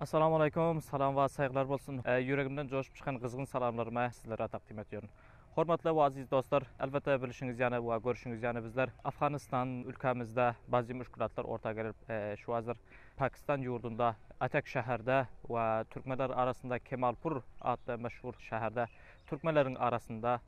Assalamu aleykum, salam wa sayglar bolsun. E, yüregimden coşup çykan gyzgyn salamlarymy sizlere taqdim etýärin. Hormatly we aziz dostlar, elbetde bilişiňiz ýana we görüşiňiz ýana bizler Afganistan ülkämizde bazı müşkülatlar orta gelip, e, şu hazır Pakistan ýurdunda Atak şäherde we türkmenler arasynda Kemalpur atly meşhur şäherde türkmenleriň arasynda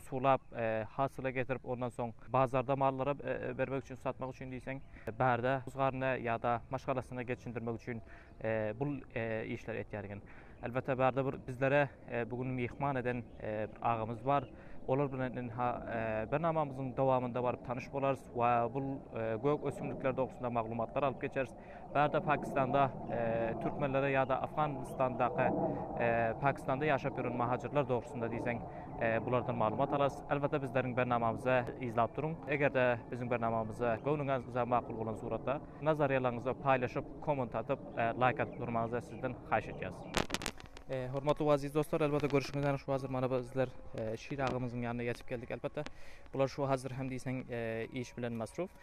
sulap, hasyla getirip, ondan soň bazarda mallara bermek üçin, satmak üçin diýseň, bärde husgaryna ýa-da maşgalasyna geçindirmek üçin bu işleri etýär eken. Elbetde, bärde bir bizlere bu gün myhman eden agamyz bar. Olar bilen ynha bernamamyzyň dowamynda baryp tanyş bolarys we bu gök ösümlikler dogrusynda maglumatlar alyp geçeris. Bärde Pakistanda türkmenlere ýa-da Afganistandaky Pakistanda ýaşap ýören mahajirler dogrusynda diýseň bulardan maglumat alarys. Elbetde bizleriň bernamamyzy yzlap duruň. Eger-de biziň bernamamyzy göwnüňize makul bolan suratda nazarýalaryňyzy paýlaşyp, komment atyp, laýk atyp durmagyňyzy sizden haýyş edýäris. Hormatly we aziz dostlar, elbetde görşüňiz ýaly şu hazir mana bizler Şir agamyzyň ýanyna ýetip geldik. Elbetde bular şu hazir hem diýseň iş bilen masruf.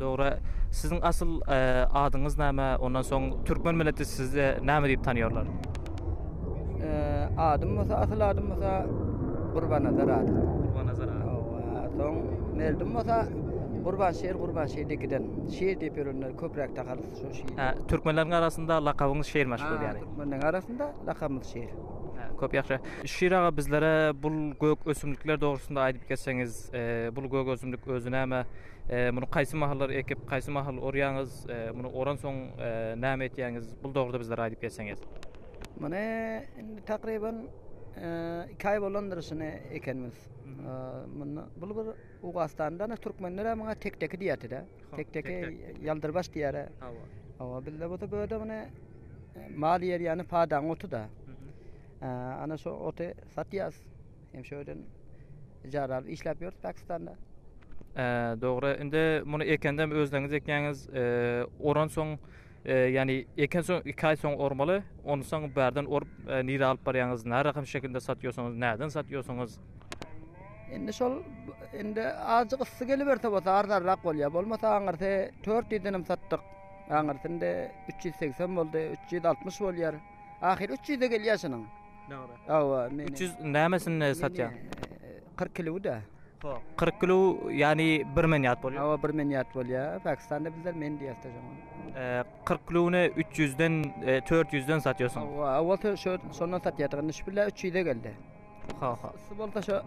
Dogry. Siziň asyl adyňyz näme? Ondan soň türkmen milleti sizi näme diýip tanýarlar? Adym bolsa asyl adym bolsa Gurbanazar ady. Gurbanazar ady. Hawa, soň Merdim bolsa Gurbanşir, Gurbanşir dikiden. Şir diýip ýörenler köpräk tagalys şu şir. Hä, türkmenleriň arasynda lakabyňyz Şirmiş bolýar. Türkmenleriň arasynda lakabymyz Şir. Köp ýagşy. Şir aga bizlere bu gök ösümlikler dogrusynda aýdyp geçseňiz, e, bu gök ösümlik özi näme? E, muny haýsy mahallar ekip, haýsy mahal orýaňyz? E, muny oransoň e, näme etýäňiz? Bu dogrusynda bizlere aýdyp geçseňiz. Muny indi takriban 2 aý bolandyr şuny ekenimiz. Munda bu bir Owgastanda ne türkmenler hem muňa tek-teki diýýärdi-de. Tek-teki ýaldyrbaş diýýär. Hawa. Hawa, bizde bolsa bu öde muny Mal ýer ýany padaň oty da. Ana şu oty satýas. Hem şöden ijara alyp işläp ýörüs Pakistanda. Dogry. Indi muny ekendem özleňiz ekýäňiz. Oran soň, ýani eken soň 2 aý soň ormaly. Ondan soň bärden orup, nirä alyp barýaňyz? Närahat şekilde satýorsyňyz? Näden satýorsyňyz? Indi şol indi azjyk yssy geliberte bolsa arzanrak bolýar. Bolmasa aňyrsy 400 denem satdyk. Aňyrsynda üç ýüz segsen boldy, üç ýüz altmyş bolýar. Ahyry üç ýüze gelýär şunuň. Dogry. Hawa, meniň. Üç ýüz nämesini satýaň? Kyrk kilowy-da. Hop, kyrk kilow, ýagny bir menýat bolýar. Hawa, bir menýat bolýar. Pakistanda bizler men diýýäs-de şoňa. Kyrk kilowyny üç ýüzden, dört ýüzden satýarsyň. Hawa, owal şondan satýardyk, indi şu bile üç ýüze geldi. Hawa. Şu bolsa şu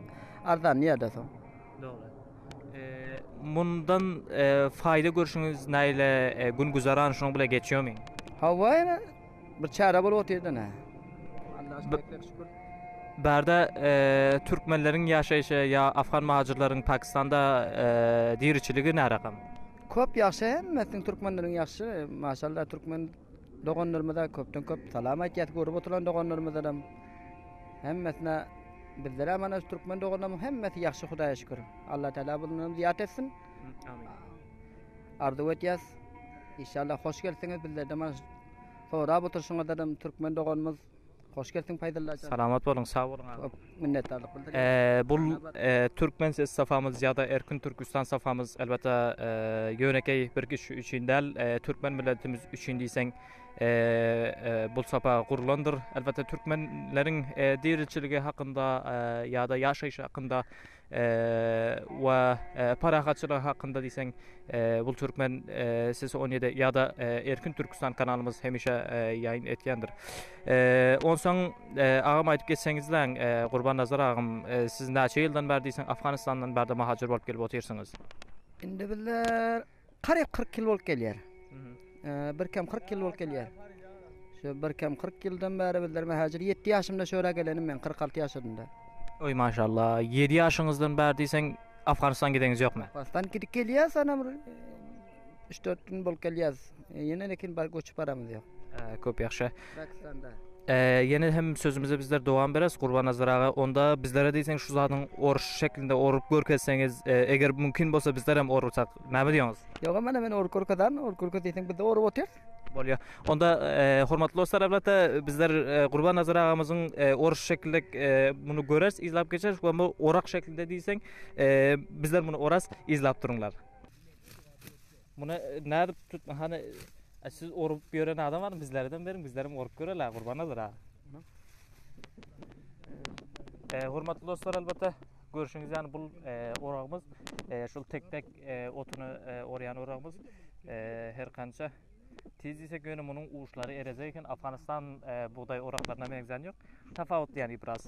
arzanlaýar-da soň. Mundan faýda görşüňiz näle? Gün güzeran şunuň bilen geçýärmi? Hawa ine bir çäre bolup otyrda ine. Bärde türkmenleriň ýaşaýşy ýa afgan mahajyrlaryň pakistanda diriçiligi närakam? Köp ýagşy hemmesiniň türkmenleriň ýagşy maşallah türkmen doganlarymyza köpden köp salam aýtýas görüp oturan doganlarymyzam hemmesine Bizlerem ana şu türkmen doganlarymyň hemmesi ýagşy Hudaýa şükür. Allah Taala bundan zyýat etsin. Amin. Arzuw etýäs. Inşallah hoş gelsiňiz bizlerden mana sorap oturşyňyzdan türkmen doganymyz hoş gelsiň Paýdalla. Salamat boluň, sag boluň abi. Minnetdarlyk bildirýän. Ee, bul ee, türkmen ses safamyz ýa-da Erkin Türkistan safamyz elbetde ee, ýönekeý bir kişi üçin däl, ee, türkmen milletimiz üçin diýseň bul sapa gurlandyr. Elbetde türkmenleriň diriçiligi hakynda ýa-da ýaşaýşy hakynda we parahatçylygy hakynda diýseň bul türkmen sesi on ýedi ýa-da Erkin Türkistan kanalymyz hemişe ýaýyn etýändir. Onsoň agam aýdyp geçseňizläň Gurbannazar agam siz näçe ýyldan bäri diýseň Afganistandan bärde mahajyr bolup gelip otyrsyňyz? Indi bizler Karyp kyrk ýyl bolup gelýär. Birkem kyrk ýyl bolup gelýär. Şu birkem kyrk ýyldan bäri bizler mähäjir ýetdi ýaşymda şu ýere gelenim men kyrk alty ýaşadymda. Oý maşallah, ýedi ýaşyňyzdan bäri diýseň Afganistan gideniňiz ýokmy? Afganistan gidip gelýäs anam bir üç dört gün bolup gelýäs. Ýene lekin bar göçüp baramyz ýok. Köp ýagşy. Ýene hem sözümize bizler dowam bereris Gurbannazar aga. Onda bizlere diýseň şu zadyň orşy şeklinde orup görkezseňiz, eger mümkin bolsa bizler hem orsak. Näme diýoňyz? Ýogam mana men orup görkezän. Orup görkez diýseň biz-de orup otyrys. Bolýar. Onda hormatly dostlar albatda bizler Gurbannazar agamyzyň orşy şeklinde muny göreris, yzlap geçeris we bu orak şeklinde diýseň bizler muny oras. Yzlap durunlar. Muny nädip tut hany siz orup ýören adam bar bizlerden beriň bizlerem orup görelä gurban aldyr ha. E, hormatly dostlar albatta görüşüňiz ýany bul e, oragymyz e, şul tek tek e, otuny e, orýan oragymyz e, her kança Tiz ise göni munyň uçlary erezeyken Afganistan e, buğday oraklarına meňzän yok. Tafavutly yani biraz.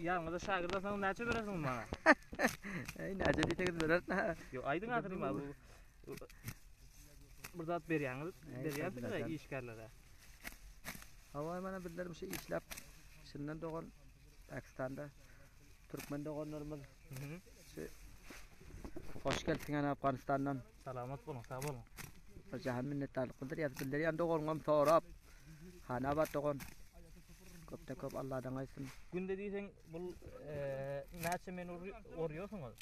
Ýalňyza şagird alsaňyz näçe berersiňiz maňa? Eý, näçe diýseňiz bereris. Yo, aýdyň ahyry maňa bu. Bir zat berýäňiz, berýärsiňiz ya işgärlere. Hawa, mana bizler şu işläp şundan dogan Pakistanda türkmen doganlarymyz. Şu hoş geldiň Afganistandan. Salamat boluň, sag boluň. Bir jahan minnetdarlyk bildirýäs. Bildirýän doganyňam sorap. Hanabat dogan. Köpden köp Alladan aýtsyn. Günde diýseň bul näçe men orýarsyňyz?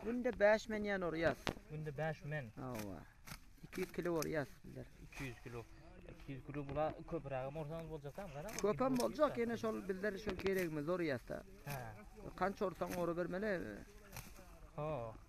Günde 5 men ýan orýas. Günde 5 men. Hawa. 200 kilo orýas bizler. 200 kilo. 200 kilo bula köprägem orsaňyz boljak hem gara. Köpem boljak ýene şol bizler şol geregimiz orýas da. Ha. Kança orsaň ora bermeli. Ha.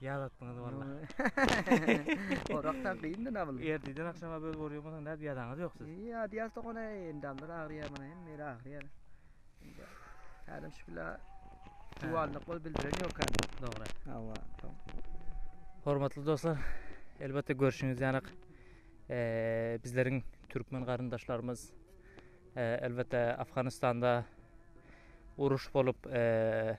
Ýaz atdyňyz walla. Orakdan gyndy nabyl. Erdiden akşama böl borýar bolsaň nädip ýadaňyz ýok siz. Ýa diýas dokana endamlar agyrýar mana hem meri agyrýar. Indi häzir şükla duwanlyk bol bildiren ýok ha. Dogry. Hawa. Hormatly dostlar, elbetde görşüňiz ýanak eee bizleriň türkmen garyndaşlarymyz eee elbetde Afganistanda uruş bolup eee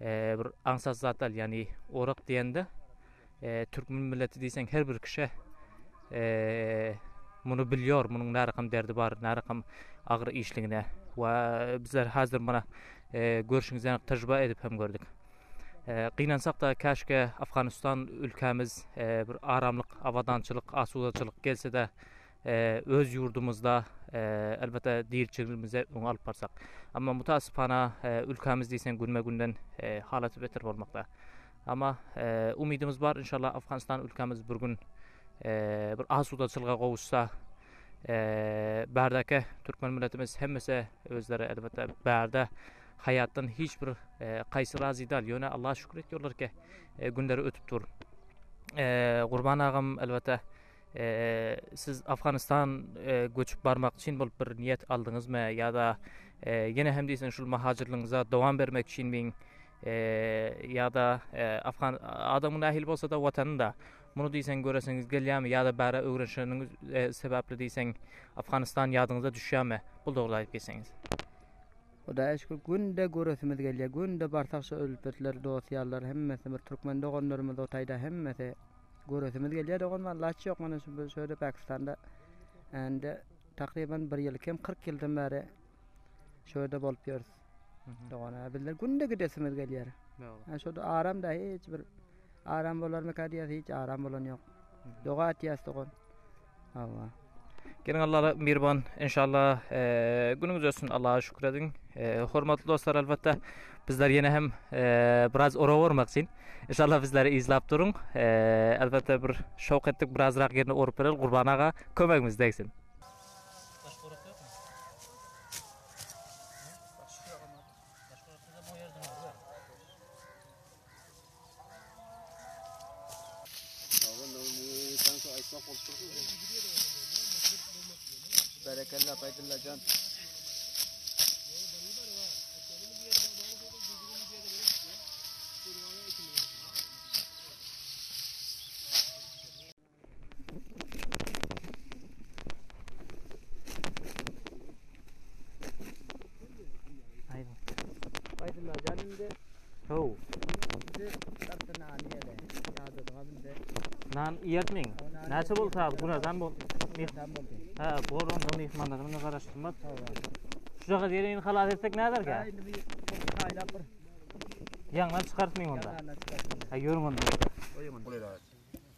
bir aňsat zat dal yani orak diýende türkmen milleti diýseň her bir kişä muny bilýär munuň närakam derdi bar närakam agyr işligine we bizler hazir mana görşüňiz ýaly tejribe edip hem gördük gynansak da käşke afganistan ülkämiz bir aramlyk abadançylyk asudaçylyk gelse de öz ýurdumyzda elbetde diýilçiligimizi öňe alyp barsak. Amma mutasypana ülkämiz diýseň günbe-günden halaty beter bolmakda. Amma umydymyz bar inşallah Afganistan ülkämiz bir gün bir asudaçylyga gowuşsa bärdäki türkmen milletimiz hemmesi özleri elbetde bärde haýatdan hiç bir kaýsy razy däl ýöne Allaha şükür etýärler ki günleri ötüp dur. Gurban agam elbetde Siz Afganistan göçüp barmak üçin bolup bir niýet aldyňyzmy ýa-da ýene hem diýseň şul mahaçyrlygyňyza dowam bermek üçinmi ýa-da adamyň nähili bolsa-da watanynda muny diýseň göresiňiz gelýärmi ýa-da bäri öwrenişeniňiz sebäpli diýseň Afganistan ýadyňyza düşýärmi? Bu dogry aýdyp geçseňiz. Hudaýa şükür günde göresimiz gelýär. Günde barsak şu ülpetler, dost-ýarlar hemmesi bir türkmen doganlarymyz o taýda hemmesi. Göresimiz gelýär dogan walla hiç ýok mana şu şöýle Pakistanda indi takryban bir ýyl kem 40 ýyldan bäri şöýde bolup ýörüs. Dogan bizler günde gidesimiz gelýär. Ha şoda aram da hiç bir aram bolarmyka diýýär hiç aram bolan ýok. Doga etýäs dogan. Allah. Gelin Allah'a mirban inşallah e, günüňiz olsun Allah'a şükür edin. E, hormatly dostlar elbette bizler yine hem e, biraz ora ormak için inşallah bizleri izlap durun. E, elbette bir şok ettik biraz rak yerine orup verelim Kurban Ağa kömegimiz değsin. Berekella Feydulla Can. Nan ýertmeň. Näçe bol taýyp günadan bol. Ha, bor on dony ihmandan men garaşdymda. Şu jaga gelin halas etsek näder ki? Ýaňdan çykartmaň onda. Ha, ýörün onda. Oýun onda.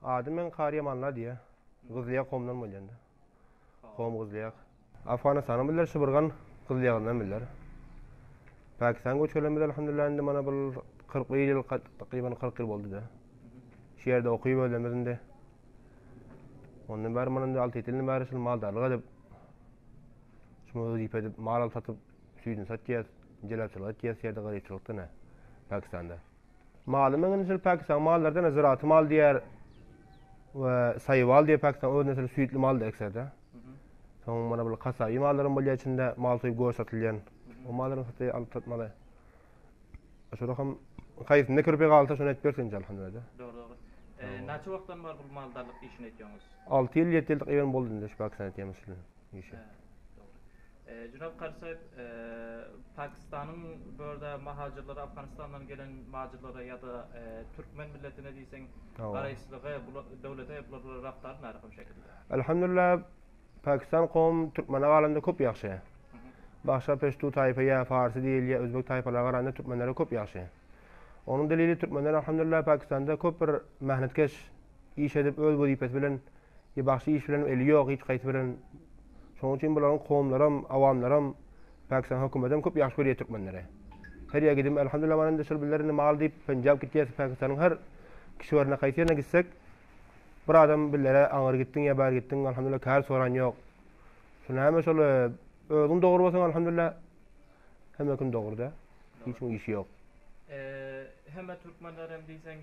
Ady meň Karyýam Anna diýýär. Gyzlyýag komdan bolýanda. Kom gyzlyýag. Afganystanyň biler şybyrgan gyzlyýagyndan biler. Pakistan göç gelen biz alhamdulillah indi mana bul kyrk bir ýyl takryban kyrk ýyl boldy-da. Şu ýerde okyp özlemiz indi. Ondan bäri mana indi alty ýedi ýyldan bäri şul maldarlyk edip şumy wezipe edip mal alyp satyp süýdini satýas, jelebçilik etýäs şu ýerde garypçylykda ine Pakistanda. Maly meňe nesil Pakistan mallardan ziraty mal diýer we saýwal diýip Pakistan öz nesil süýtli maldy ekserde. Soň mana bu kasaýy mallarym bolýar içinde mal soýup goş satylýan. O mallarym satyp alyp satmaly. Şorak hem kaýsynda kirpi galsa şony et bersin inşallah hemlerde. Dogry dogry. E, Naçe wagtdan bar bu maldarlyk işini etýäňiz? 6 ýyl 7 ýyldyk ýerim boldy indi şu Pakistan etýämiz şu işi. Jenap Karsaýew, Pakistanyň bu ýerde mahajirlere, Afganistandan gelen majirlere ýa-da türkmen milletine diýseň garaýyşlygy bu döwlete bular bilen rabtaly nähili hum şekilde? Alhamdulillah, Pakistan kowum türkmene galanda köp ýagşy. Başga peştu taýpa ýa farsy diýeli ýa özbek taýpalara garanda türkmenlere köp ýagşy. Onuň delili türkmenler alhamdulillah Pakistanda köp bir mähnetkeş, iş edip öz wezipesi bilen Ýe bagşy iş bilen eli ýok hiç haýsy bilen şoň üçin bularyň kowumlaram awamlaram pakistan hökümetem köp ýagşy görýä türkmenleri her ýa gidim alhamdulillah many indi şol bizler indi mal diýip penjap gitýäs pakistanyň her kişi barna haýsy ýerine gitsek bir adam bizlere aňyr gitdiň ýa bär gitdiň alhamdulillah kär soran ýok şu näme şol özüň dogry bolsaň alhamdulillah Hemme kim dogruda hiç kimiň işi ýok. Hemme türkmenler hem diýseň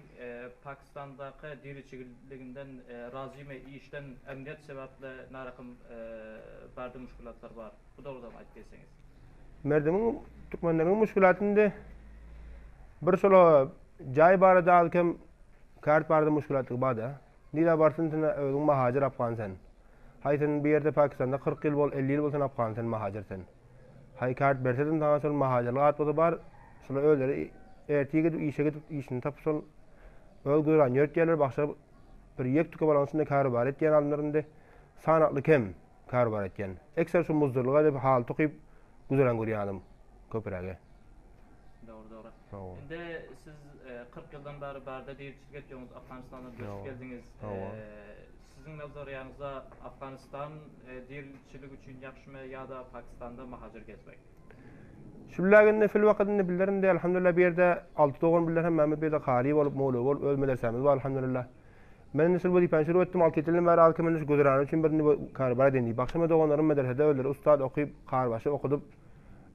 pakistandaky diriçigiliginden razymy işden emniýet sebäpli narakim barde muşkilatlar bar bu dogrudan aýt diýseňiz. Merdimiň türkmenleriň muşkilaty indi bir şola jaý barada az kem kart barada muşkilatlygy barda nirä barsyn sen özüň mahajer afgan sen haý sen bu ýerde pakistanda kyrk ýyl bol elli ýyl bol sen afgan sen mahajer sen. Haý kart bersedim saňa şol mahajalyk atbada bar şular özleri ertir gidip işe gidip işini tapyp şol öz güzerany ýörtýärler bagşa bir ýek tüke balaň içinde karubar etýän alymlar indi sanakly kem karubar etýän ekser şu muzdurlyga edip haly tokyp güzeran görýän adam köpürägi. Dogry dogry. Indi siz e, kyrk ýyldan bäri barda diriçilik etýäňiz, Afganistana göçüp geldiňiz. E, Siziň nazarýaňyzda Afganistan dirilikçilik üçin ýagşymy ýa-da Pakistanda mahacyr gezmek? Şulla günde şul wakat indi bilerin däl Alhamdulillah bu ýerde alty dogan bilen hemmamiz bu ýerde kary bolup mowla bolup öz medresemiz bar Alhamdulillah. Men indi şul wezipäni şurup etdim alty ýedi ýyldan bäri az kem indi şu güzerany üçin bir indi kary bar edeýin diýip bagşym we doganlarym medresede özleri ussat okyp karybaşy okudyp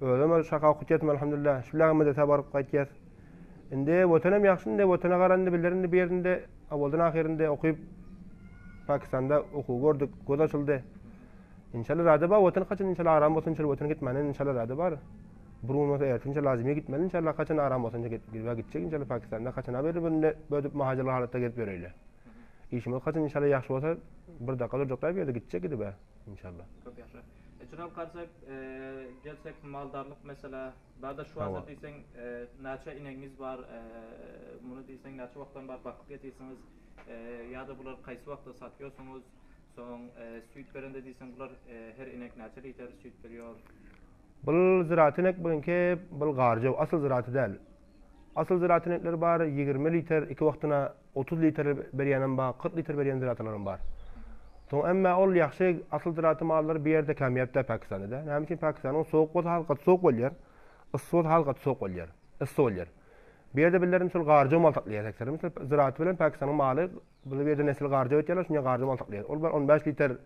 Özem ol şaka okut ýatym alhamdulillah. Şu bilen medrese baryp gaýtýas. Indi watanym ýagşy indi watana garanda biler indi bu ýerinde awaldan ahyrynda okyp Pakistanda okuw gördük, göz açyldy. İnşallah rada bar watan kaçan inşallah aram bolsun inşallah watan gitmäne inşallah rada bar. Bir gün bolsa ertin inşallah lazime gitmeli inşallah kaçan aram bolsun inşallah gidip gidip gitjek inşallah Pakistanda kaçan haber bende bödüp mahajalı halatda gelip göreyle. İşimiz kaçan inşallah ýahşy bolsa bir dakika durjak da bir ýerde gitjek gidip inşallah. Köp ýahşy. Jynak garsak gelsek maldarlyk meselä barda şu wagtda diýseň naçe inegiňiz bar muny diýseň naçe wagtdan bar bakyp ýetisiňiz ýada bular kaýsy wagtda satýosuňyz soň süýt berende diýseň bular her inek naçe liter süýt berýor. Bul zyraty inek bilinki bul garjaw asyl zyraty däl Asyl ziratyň reňkleri bar, ýigrimi liter, iki wagtyna otuz liter berýänem bar, kyrk liter berýän ziratylaram bar. Soň emma ol ýagşy asyl ziraty mallary bir ýerde kämýap däl Pakistanda-da. Näme üçin Pakistanyň sowuk bolsa has gaty sowuk bolýar, yssy bolsa has gaty sowuk bolýar, yssy bolýar. Bir ýerde bildirin misal garja mal saklaýar hektarda misal ziraty bilen Pakistanyň maly, bu ýerde nesil garja öýtýärler, şuny garja mal saklaýar. Ol bar on bäş liter,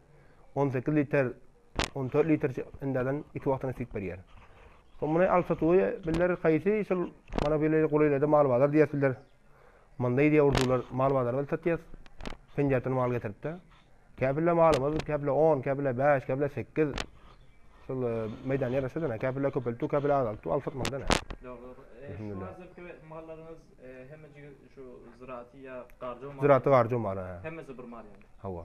on sekiz liter, 14 litr indäden iki wagtyna süýt berýär. Soň muny alsa tuýa biller haýsy şol mana bile golaýlarda mal bazar diýer biller. Munda ýa urdular mal bazarda satýar. Penjerden mal getiripdi. Käbirle malymyz, käbirle 10, käbirle 5, käbirle 8. Şol e, meýdan ýaraşa dene. Käbirle köpeltdi, käbirle azaltdy. Alsak mal dene. Dogry. E, şu hazırki mallaryňyz e, hemmejigi şu ziraty ýa garjy mal. Ziraty garjy mal. Hemmesi bir mal ýa. Hawa.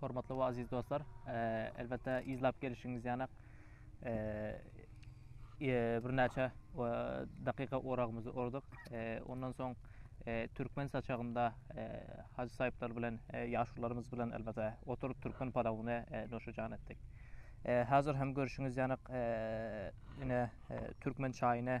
hormatly we aziz dostlar, elbetde izlap gelişiňiz ýanak birnäçe dakyka oragymyzy orduk. Ondan soň türkmen saçagynda haj saýyplar bilen, ýaşularymyz bilen elbetde oturyp türkmen palawyny noşajan etdik. Hazir hem görşüňiz ýanak ine türkmen çaýyny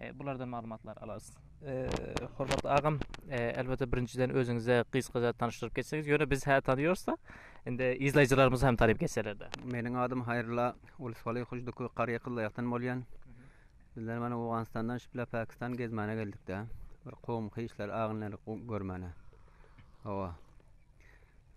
E, bulardan maglumatlar alarys. E, hormatly agam, e, elbetde birinjiden özüňize gysgaça tanyşdyryp geçseňiz, ýöne biz hä tanýarsa, indi izleýjilerimiz hem tanyp geçerlerde. Meniň adym Haýrylla Ulusgaly Hujduky Garýa Kyllaýakdan bolýan. Bizler mana Owganystandan şipla Pakistan gezmäne geldik-de. Bir kowum hyşlar agynlary görmäne. Hawa.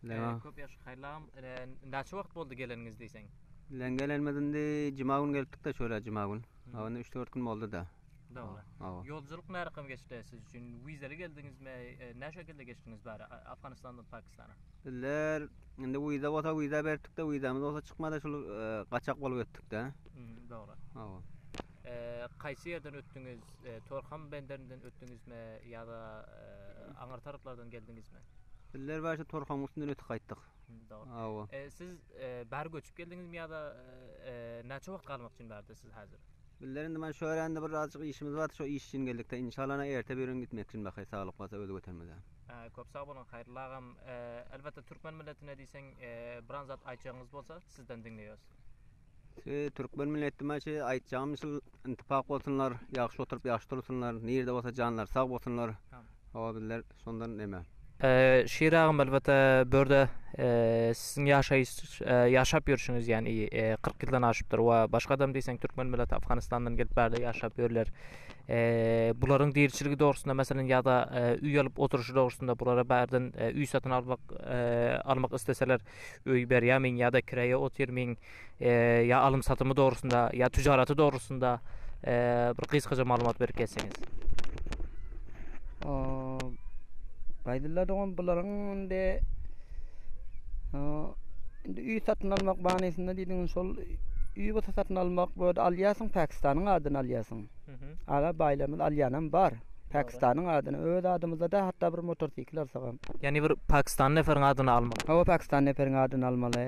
E, köp ýaş haýlam, e, näçe wagt boldy geleniňiz diýseň? Bilen gelenimiz indi juma gün gelipdik-de şöyle juma gün. Ha onda üç dört gün boldy da. Dogry. Ýolculyk närakam geçdi siz üçin? Wizaly geldiňizmi? Nä şekilde geçdiňiz bari Afganistandan Pakistana? Bizler indi wiza bolsa wiza berdik-de, wizamyz bolsa çykmady, şul gaçak bolup ötdük-de. Dogry. Hawa. Kaýsy ýerden ötdüňiz? Torham benderinden ötdüňizmi ýa-da aňyrtaraplardan geldiňizmi? Bizler başda Torhamyň üstünden ötüp gaýtdyk. Dogry. Siz bary göçüp geldiňizmi ýa-da näçe wagt galmak üçin bardy siz häzir? Bizler indi men şu örände bir azjyk işimiz bardy şo iş üçin geldikde inşallah ene erte birigün gitmek üçin bakaý saglyk bolsa özi götermezem. Köp sag boluň Haýrullo agam. Elbetde türkmen milletine diýseň biran zat aýtjagyňyz bolsa sizden diňleýäs. Şu türkmen milletime şu aýtjagym şul intipak bolsunlar, ýagşy oturyp ýagşy dursunlar, nirde bolsa janlary sag bolsunlar. Hawa bizler şondan neme. Şir agam elbetde börde siziň ýaşaýyş ýaşap ýörşüňiz ýan i kyrk ýyldan aşypdyr we başgadam diýseň türkmen milleti Afganistandan gelip bärde ýaşap ýörler. Bularyň diriçiligi dogrusynda meselem ýa-da üý alyp oturyşy dogrusynda bulara bärden üý satyn almak almak isleseler öý berýärmiň ýa-da kireýe otyrmyň, ýa alym-satymy dogrusynda, ýa tüjaraty dogrusynda bir gysgaça maglumat berip geçseňiz. Gaýdylla dogan bularyň indi indi öý satyn almak manysynda diýdigiň şol öý bolsa satyn almak, bu ýerde alýarsyň Pakistanyň adyny alýarsyň. Aga baýlarymyz alýanam bar. Pakistanyň adyny öz adymyzda-da hatda bir motorsikl alsagam. Ýagny bir pakistanly neperiň adyny almaly. Hawa, pakistanly neperiň adyny almaly.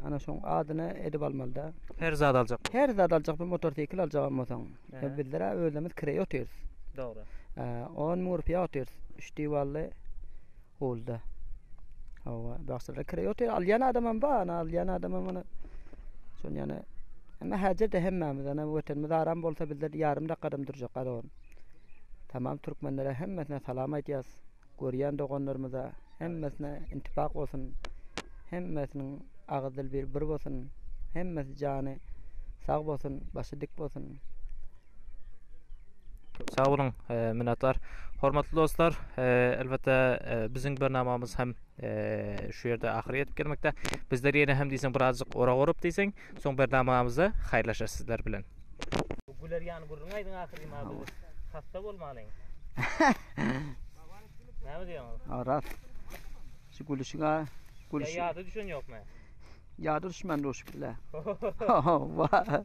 Ana şoň adyny edip almaly-da. Her zat aljak. Her zat aljak, bir motorsikl aljagam bolsaň. Bizler-ä özlerimiz kireý otyrys. Dogry. On müň rupiýa otyrys. Üç diwally Holda. Hawa, bagşyda kire ýok. Alýan adamam bar, ana alýan adamam ana. Şon ýana Emma häzirde hemmämiz ana wetenimiz aram bolsa bizde ýarym dakadam durjak gazawan. Tamam türkmenlere hemmesine salam aýdýas. Görýän doganlarymyza hemmesine intifak bolsun. Hemmesiniň agyz dil bir bir bolsun. Hemmesi jany sag bolsun, başy dik bolsun. Sag boluň, e, minnetdar. Hormatly dostlar, e, elbetde e, biziň bernamamyz hem şu ýerde ahyry ýetip gelmekde. Bizler ýene hem diýseň birazjyk ora gorup diýseň, soň bernamamyzda haýyrlaşarys sizler bilen. Güler ýan gürrüň aýdyň ahyry ma biz hasta bolmalyň. Näme diýýäňiz? Aras. Şu gülüşiňe gülüş. Ya ýada düşen ýokmy? Ýada düşmän duşup bile. Wa.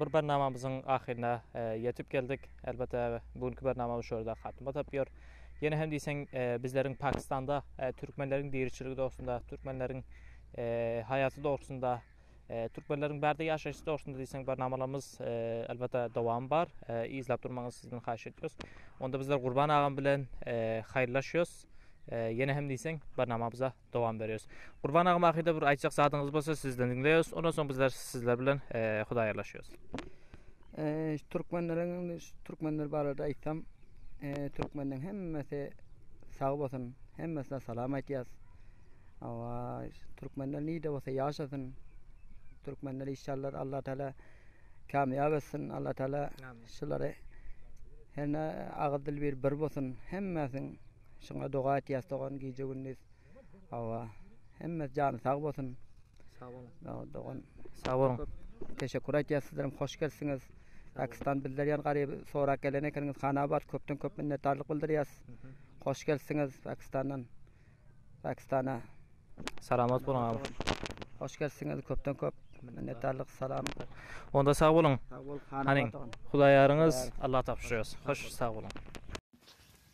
Bir bernamamyzyň ahyryna ýetip geldik. Elbetde bu günki bernamamyz şu ýerde hatyma tapýar. Ýene hem diýseň bizleriň Pakistanda türkmenleriň diriçiligi dogrusynda, türkmenleriň haýaty dogrusynda, türkmenleriň bärde ýaşaýşy dogrusynda diýseň bernamalarymyz elbetde dowamy bar. Yzlap durmagyňyzy sizden haýyş edýäris. Onda bizler Gurban agam bilen haýyrlaşýarys. Ýene hem diýseň bernamamyza dowam berýäs. Gurban aga mahyda bir aýtjak zadyňyz bolsa sizden diňleýäs. Ondan soň bizler sizler bilen eee hudaýarlaşýas. Eee türkmenleriň indi şu türkmenler barada aýtsam, eee türkmenleriň hemmesi sag bolsun, hemmesine salam aýtýas. Awa türkmenler nide bolsa ýaşasyn. Türkmenler işallar Allah Taala kamýap etsin. Allah Taala Amin. şulary herne agyz dil bir bir bolsun. Hemmesiň Şuňa doga etýäs dogan gije gündiz. Awa. Hemme jany sag bolsun. Sag bolun. Dogan. Sag bolun. Teşekkür etýäs sizleriň hoş gelsiňiz. Pakistan bizler ýan garyp sorak gelen ekeniňiz Hanabat köpden köp minnetdarlyk bildirýäs. Hoş gelsiňiz Pakistandan. Pakistana. Salamat boluň abi. Hoş gelsiňiz köpden köp minnetdarlyk salam. Onda sag boluň. Sag bol Hanabat. Hanyň Hudaýaryňyz Allah tapşyrýas. Hoş sag boluň.